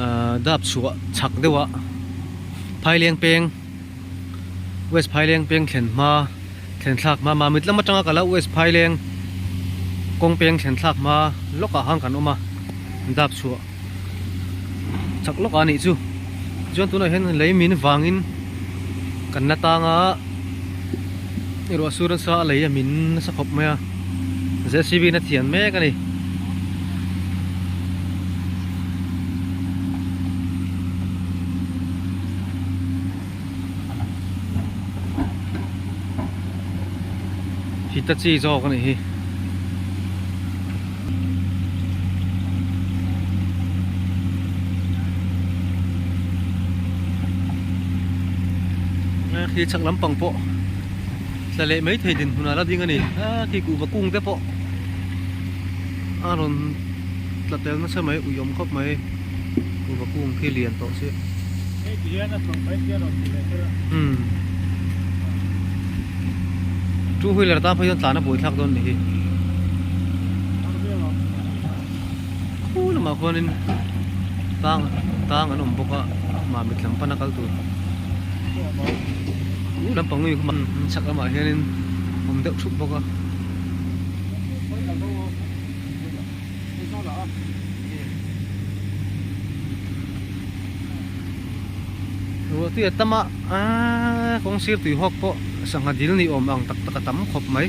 ahh dap chhuah chak deuh ah phai leng peng west phai leng peng thlen hma thlen thlak hma mahmit lam atanga ka la west phai leng kawng peng thlen thlak hma lawk ah khan kan awm a dap chhuah chak lawk ah a nih chu chuan tunah hian lei min vang in kan la tang a erawh a sur nasa a lei a min nasa khawp mai a. jcb in a thian mek a ni Hitachi zawk a nih hi khi chhak lampang pawh Tla leh mai thei dinhmun ah la ding a ni. A khi kuh va kung te pawh a rawn tla tel nasa mai, uiawm khawp mai. Kuh va kung khi lian tawh si. Hei ti hian a chhawng phai si a rawn ti ve tel a. Umm. Two wheeler tan pawh hian tlan a buaithlak dawn a ni hi. Khuu lamah khuanin tlang tlang an awm bawk a, mah mitlam pan a kal tur. u lam pangnu kha man chak lamah hianin awm deuh thup bawk a ruahte a tam a aaa kawng sir tui hawk pawh sangha dil ni awm ang tak tak a tam khawp mai.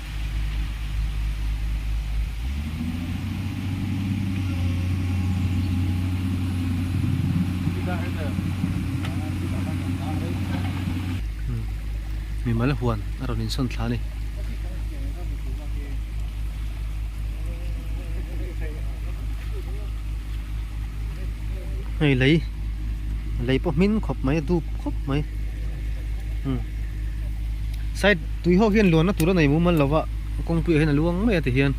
mimal huan a rawn insawn thla a ni hei lei lei pawh hming khawp mai a dup khawp mai side -- Tui ho hian luanna tura nei mumal lo va, kawng puiah hian a luang mai a tihian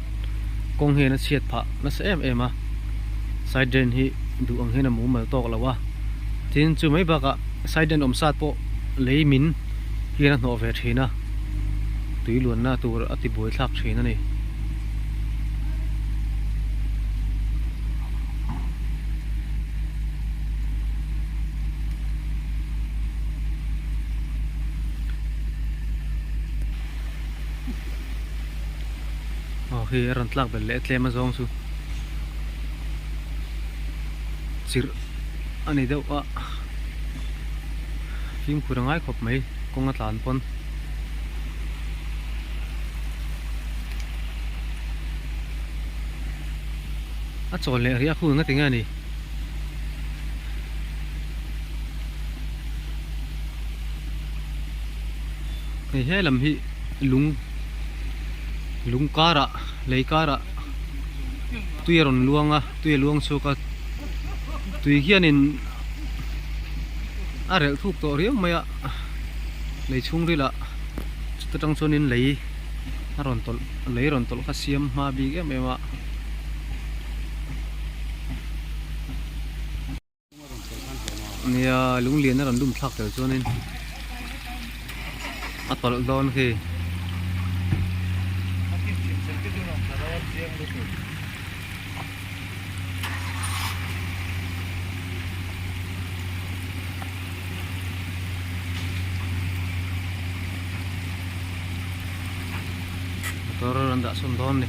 kawng hian a chhiat phah nasa em em a, side drain hi duh ang hian a mumal tawk lo a, tin chu mai bakah side drain awm sat pawh lei min hian a hnawh ve thin a, tui luanna tur a ti buai thlak thin a ni. aw khi a rawn tlak belh leh a tlem a zawng chu chirh a ni deuh a fimkhur a ngai khawp mai kawng a tlan pawn. A chawl leh riah hun a ti nge a ni. hei he lam hi lung lung karah lei karah tui a rawn luang a tui a luang chhuak a tui hianin a relh thuk tawh riau mai a lei chhungril ah chuta tang chuanin lei a rawn tawlh lei a rawn tawlh kha siam hma bik em em a. Nia lungliana rawn dum thlak tel chuanin a tawlh dawn khi. Motor an dah sawn dawn ni.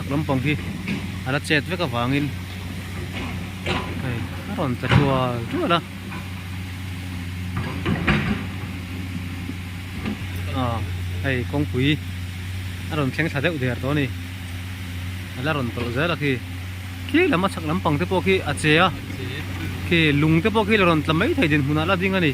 Lampang hi a la chet vek avangin hei a rawn tla tual tual a ah hei kawngpui a rawn thleng thla deuh der tawh a ni a la rawn tawlh zel a khi khi lam a chhak lampang te pawh khi a che a khi lung te pawh khi la rawn tla mai thei dinhmun ah a la ding a ni.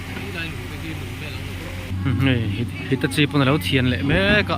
Hitachi pawn a lo thian leh mek a.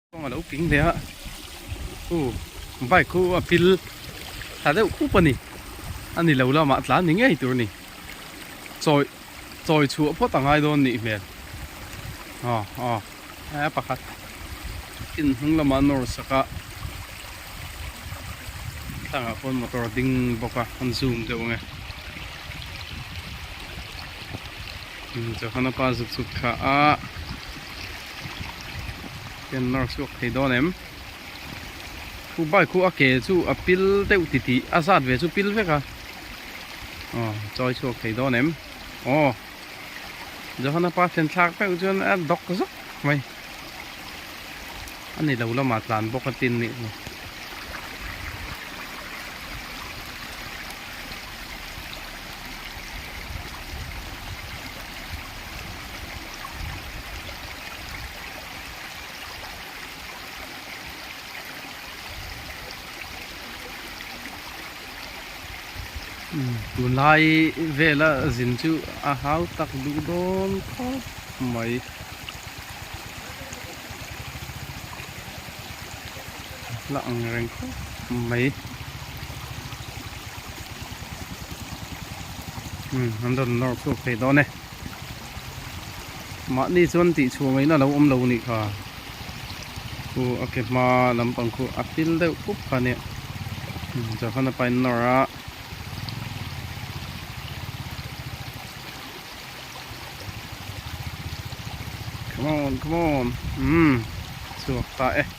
Kawng alo ping leh a u bike khu a phil tha deuh khup a ni ani lo lama a tlan ni ngei tur ni chawi chawi chhuah phawt a ngai dawn nih hmel a a a pakhat in hnung lama an nawr sak a tlangah pawh motor a ding bawk a an zoom deuh ang e chaw hana pa zut zut kha a Ken mark suak thei dawn em Khu bike khu a ke chu a pil deuh ti ti a zat ve chu pil vek a Aw chawi chhuak thei dawn em Aw Johana pa thlen thlak peuh chuan a dawk zawk mai Ani lo lamah tlan bawk a tin nih chu tunlai vela zin chu a hau tak duh dawn khawp mai hla ang reng khawp mai an rawn nawr phur phei dawn e. Mahni chuan tih chhuangaihna lo awm lo nih kha. Khu a ke hma lampang khu a hil deuh pup kha nia. Johan a pain nawr a. Come on, come on. Um, chhuak ta e.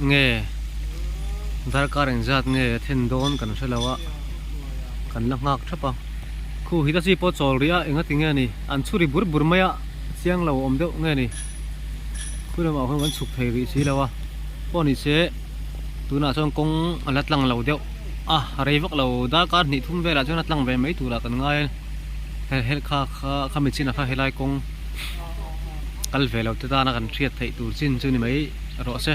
Nge darkar in zat nge a then dawn kan hre lo a, kan la nghak thap a. Khu hi ta chi pawh chawl rih a, eng a ti nge ni? An chhu ri bur bur mai a, chiang lo awm deuh nge ni? Khua lamah khawn kan chhuk thei rih si lo a, pawh ni che tunah chuan kawng a la tlang lo deuh a, rei vak lo darkar hnih thum velah chuan a tlang ve mai turah kan ngai a, he helh kha kha kha mi chinah kha helai kawng. kal ve lo te tana kan hriat theih tur chin chu ni mai rawh se.